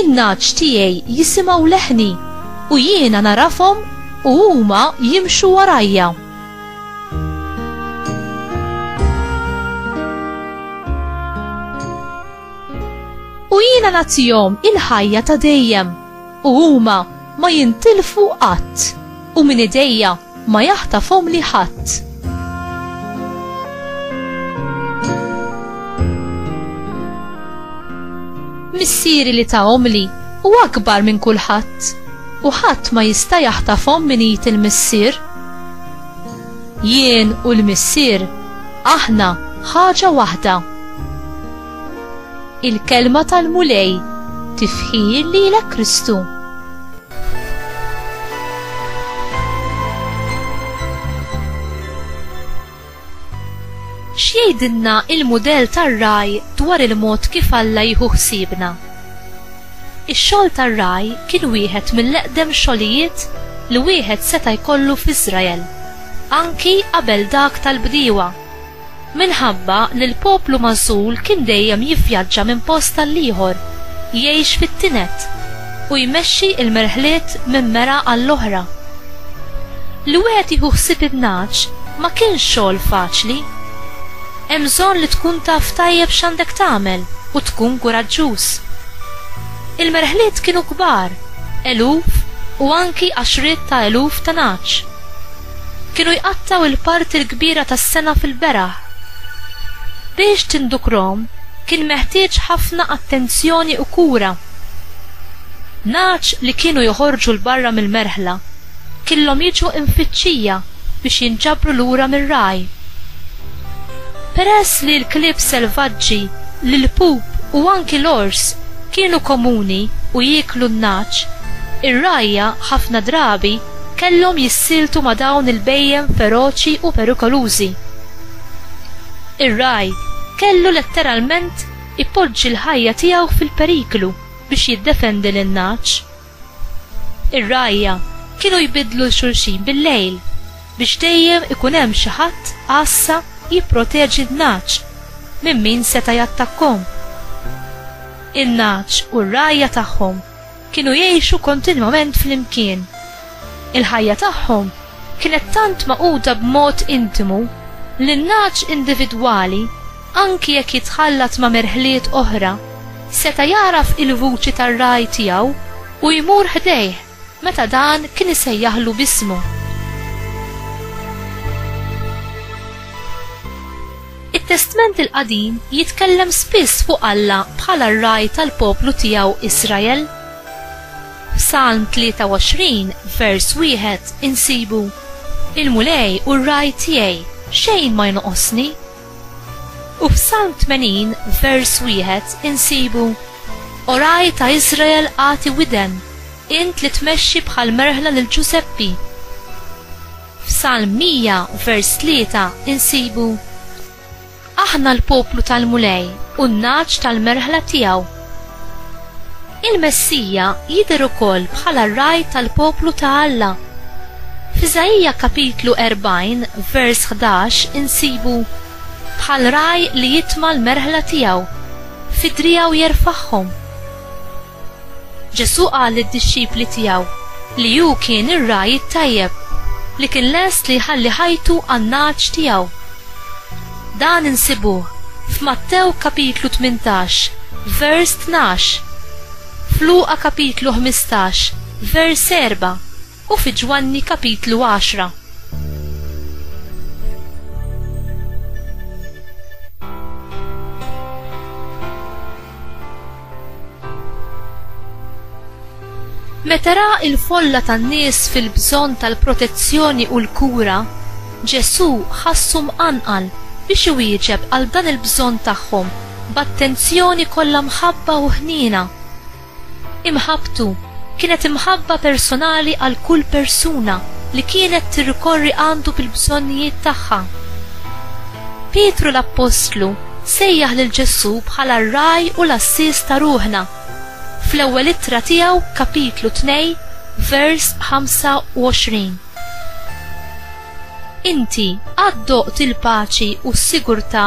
In-nagħaġ tiegħi jisimgħu leħni, u jiena nagħrafhom u huma jimxu warajja. U jiena nagħtihom il-ħajja ta' dejjem, u huma ma jintilfu qatt, u minn idejja Ma jaħtafhomli ħadd. Missieri li tahomli hu akbar minn kulħadd u ħadd ma jista' jaħtafhom minn id il-Missier. Jien u l-Missier aħna ħaġa waħda. Il-kelma tal-Mulej tifħir lilek Kristu. X'jgħidilna il-mudell tar-raj dwar il-mod kif Alla jieħu ħsiebna? Ix-xogħol tar-raj kien wieħed mill-eqdem xogħlijiet li wieħed seta' jkollu f'Iżrael, anki qabel dak tal-bdiewa. Minħabba li l-poplu magħżul kien dejjem jivvjaġġa minn post għall-ieħor, jgħix fit-tined, u jmexxi l-merħliet minn mera għall-oħra. Li wieħed jieħu ħsieb in-nagħaġ ma kienx xogħol faċli. Hemm bżonn li tkun taf tajjeb x'għandek tagħmel u tkun kuraġġuż. Il-merħliet kienu kbar, eluf u anki għaxriet ta' eluf ta' nagħaġ. Kienu jqattgħu l-parti l-kbira tas-sena fil-beraħ. Biex tindukrhom kien meħtieġ ħafna attenzjoni u kura. Nagħaġ li kienu joħorġu 'l barra mill-merħla killhom jiġu imfittxija biex jinġabru lura mir-ragħaj. Peress li l-klieb selvaġġi, l-ilpup u anki l-ors kienu komuni u jieklu n-nagħaġ, ir-rgħajja ħafna drabi kellhom jissieltu ma' dawn il-bhejjem feroċi u perikolużi. Ir-ragħaj kellu letteralment ipoġġi l-ħajja tiegħu fil-periklu biex jiddefendi lin-nagħaġ. Ir-rgħajja kienu jbiddlu 'l xulxin bil-lejl biex dejjem ikun hemm xi ħadd għassa jipproteġi n-nagħaġ minn min seta' jattakkhom. In-nagħaġ u r-rgħajja tagħhom Kienu jgħixu kontinwament flimkien. Il-ħajja tagħhom kienet tant magħquda b'mod intimu li n-nagħaġ individwali, anki jekk jitħallat ma' merħliet oħra, seta' jagħraf il-vuċi tar-ragħaj tiegħu u jmur ħdejh meta dan kien isejjaħlu b'ismu. It-Testment il-Qadim jitkellem spiss fuq Alla bħala r-Ragħaj tal-poplu tiegħu Israel. F'Salm 23, vers 1 insibu, Il-Mulej hu r-Ragħaj tiegħi, xejn ma jonqosni. U f'Salm 80, vers 1 insibu, O Ragħaj ta' Israel agħti widen, int li tmexxi bħall-merħla lil Ġużeppi. F'Salm 100 vers 3 insibu, Aħna l-poplu tal-Mulej u n-nagħaġ tal-merħla tiegħu. Il-Messija jidher ukoll bħala r-ragħaj tal-poplu ta' Alla. F'Iżaija kapitlu 40 vers 11 insibu, Bħal ragħaj li jitma' l-merħla tiegħu, fi driegħu jerfagħhom. Ġesù qal lid-dixxipli tiegħu li hu kien ir-ragħaj it-tajjeb li kien lest li jħalli ħajtu għan-nagħaġ tiegħu. Dan insibuh f'Mattew kapitlu tmintax, vers tnax, f'Luqa kapitlu ħmistax, vers erba' u fi Ġwanni kapitlu għaxra. Meta ra l-folla tan-nies fil-bżonn tal-protezzjoni u l-kura, Ġesù ħassu mqanqal biex iwieġeb għal dan il-bżonn tagħhom b'attenzjoni kollha mħabba u ħniena. Imħabbtu kienet imħabba personali għal kull persuna li kienet tirrikorri għandu bil-bżonnijiet tagħha. Pietru l-appostlu Sejjaħ lil Ġesù bħala r-Ragħaj u l-Għassies ta' ruħna. Fl-ewwel ittra tiegħu, kapitlu tnej, vers 25, Inti qatt doqt il-paċi u s-sigurtà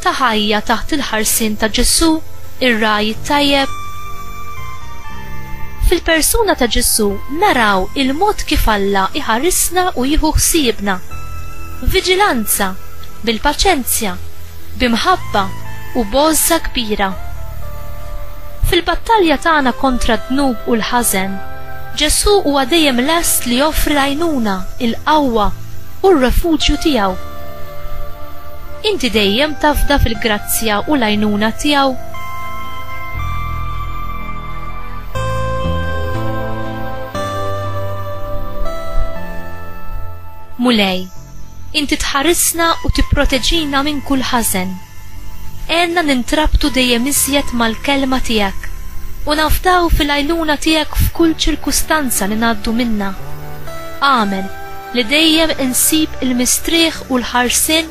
ta' ħajja taħt il-ħarsien ta' Ġesù, ir-Ragħaj it-Tajjeb? Fil-persuna ta' Ġesù naraw il-mod kif Alla jħarisna u jieħu ħsiebna. Viġilanza, bil-paċenzja, bi mħabba u b'għożża kbira. Fil-battalja tagħna kontra d-dnub u l-ħażen, Ġesù huwa dejjem lest li joffri l-għajnuna, il-qawwa, u r-refuġju tiegħu. Inti dejjem tafda fil-grazzja u l-għajnuna tiegħu? Mulej, inti tħarisna u tipproteġina minn kull ħażen. Għenna nintrabtu dejjem iżjed mal-Kelma tiegħek u nafdaw fil-għajnuna tiegħek f'kull ċirkustanza li ngħaddu minnha. Agħmel li dejjem insib il-mistrieħ u l-ħarsien